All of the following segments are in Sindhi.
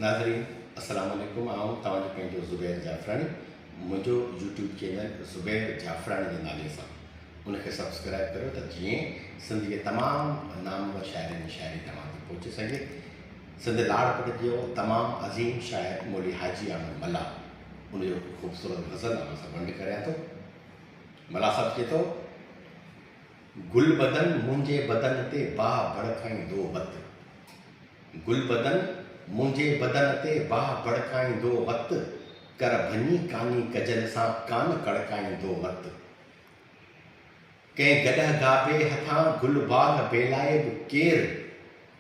ناظرين السلام عليڪم آئون توهان جو پنهنجو زبير جعفراڻي منهنجو يوٽيوب چينل زبير جعفراڻي جي نالي سان ان کي سبسڪرائب ڪريو ته جيئن سنڌ جي تمام نامور شاعرن جي شاعري توهان تي پهچي سگهي سنڌ لاڙڪٽ جو تمام عظيم شاعر مولي حاجي احمد ملا ان جو خوبصورت غزل اوهان سان ونڊ ڪريان ٿو ملا صاحب چئي ٿو گل بدن منهنجي بدن تي باهه ڀڙڪائيندو وت گل بدن منهنجي بدن تي باهه ڀڙڪائيندو وت ڪر ڀڃي ڪاني ڪجل سان ڪان ڪڙڪائيندو وت ڪنهن گڏهه گابي هٿان گل باغ بيلائي به ڪير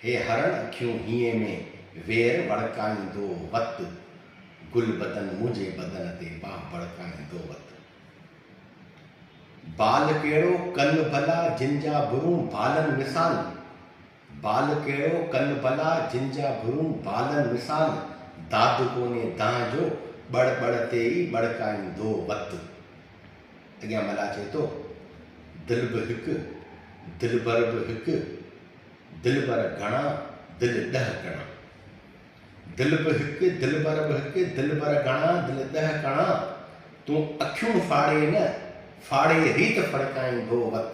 هي هرڻ اکيون هينئين ۾ وير وڙڪائيندو وت گل بدن منهنجي بدن تي باهه ڀڙڪائيندو وت. بال ڪهڙو ڪن ڀلا جن جا برون بالن مثال بال ڪهڙو ڪن ڀلا جن جا برون بالن مثال داد ڪونهي دانهن جو ٻڙ ٻڙ تي ئي ٻڙڪائيندو وت اڳيان ملاح چئي ٿو دل به هڪ دلبر به هڪ دلبر گهڻا دل ڏهه ڪڻا دل به هڪ، دلبر به هڪ، دلبر گهڻا، دل ڏهه ڪڻا، تون اکيون ڦاڙي نه، ڦاڙي ريت ڦڙڪائين ڀو وت.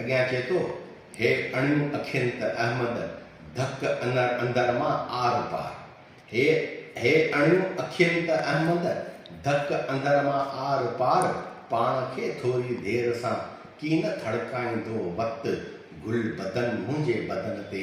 اڳيان چئي ٿو، هي اڻيون اکين ته احمد، ڌڪ انر اندر مان آر پار. هي هي اڻيون اکين ته احمد، ڌڪ اندر مان آر پار، پاڻ کي ٿوري دير سان ڪين ٿڙڪائيندو وت، گل بدن منهنجي بدن تي